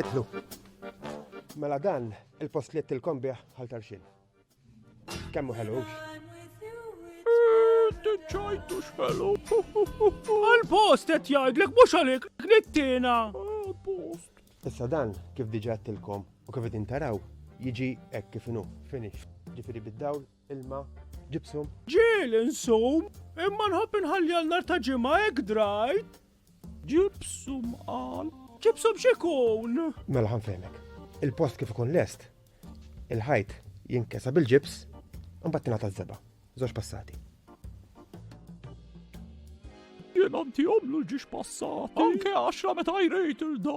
Itlu. Mela dan il-post li tilkom bih għal tarxin. Kemmu ħelu. Ċajtu xħelu. Għal-post qed jgħidlek mhux għalik knittina. Post. Issa dan kif diġà tilkom u kif qed intaraw jiġi hekk kif inhu finish. Ġifieri bid-dawl Ilma, ġipsum. Ġiel insum, imma nħobb inħalli għal nar ta' ġimgħa hekk drajt. Ġipsum qal. Ġipsum x'ikun? Mela ħanfehmek. Il-post kif ikun lest, il-ħajt jinkesa bil-ġips, imbagħad tingħata żeba, żewġ passati. Jien għanti għomlu ġiex passat. Anke għaxra meta jrejt il-da.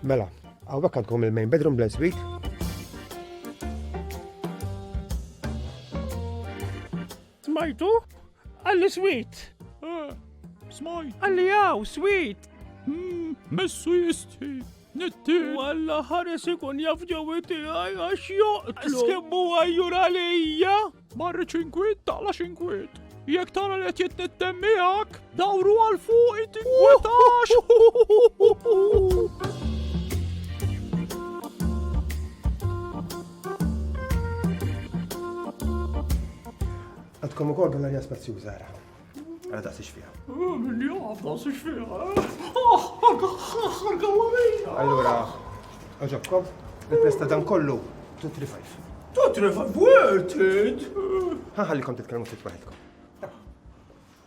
Mela, għawek għandkom il-main bedroom bl suite. Smajtu? Għalli sweet! Eh, smajt! Għalli għaw, sweet! Hmm, messu jisti! Nitti! Għalla ħares ikun jaf ġewi tiegħi għax joqtlu! Skemmu għajjur għalija! Marri ċinkwit, taqla ċinkwit! Jek tara li qed jitnittem miegħek, dawru għal fuq it-tinkwetax! Għadkom ukoll din l-arja spazjuża ara. Ara daqsix fiha. Min jaf daqsix fiha. Allura, oġobkom, il-presta dan kollu 235. 235 worth it! Ħaħallikom titkellmu ftit waħedkom.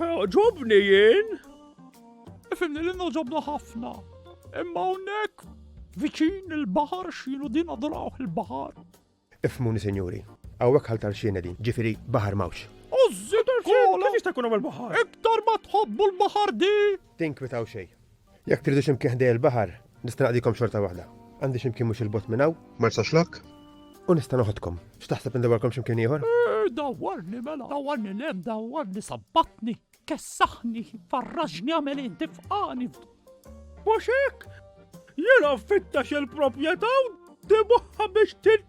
Ġobni jien? Ifimni li noġobna ħafna. Imma hawnhekk viċin il-baħar xilu din adoraw il-baħar. Ifmuni sinjuri, hawnhekk ħaltar xiena din, ġifieri baħar mawx. Ożżi tal-kola! Kif jista' jkun hawn il-baħar? Iktar ma tħobbu l-baħar di! Tinkwitaw xejn. Jekk tridu xi mkien ħdejja l-baħar, nista' naqdikom xorta waħda. Għandi xi mkien mhux il-bot minn hawn. Marsa Xlokk? U nista' noħodkom. X'taħseb indawwarkom xi mkien ieħor? Eh, dawwarni mela, dawwarni lem, dawwarni sabbatni, kessaħni, farraġni għamel inti f'qani. Mhux hekk? Jiena fittax il-proprjetà u dibuħħa biex tin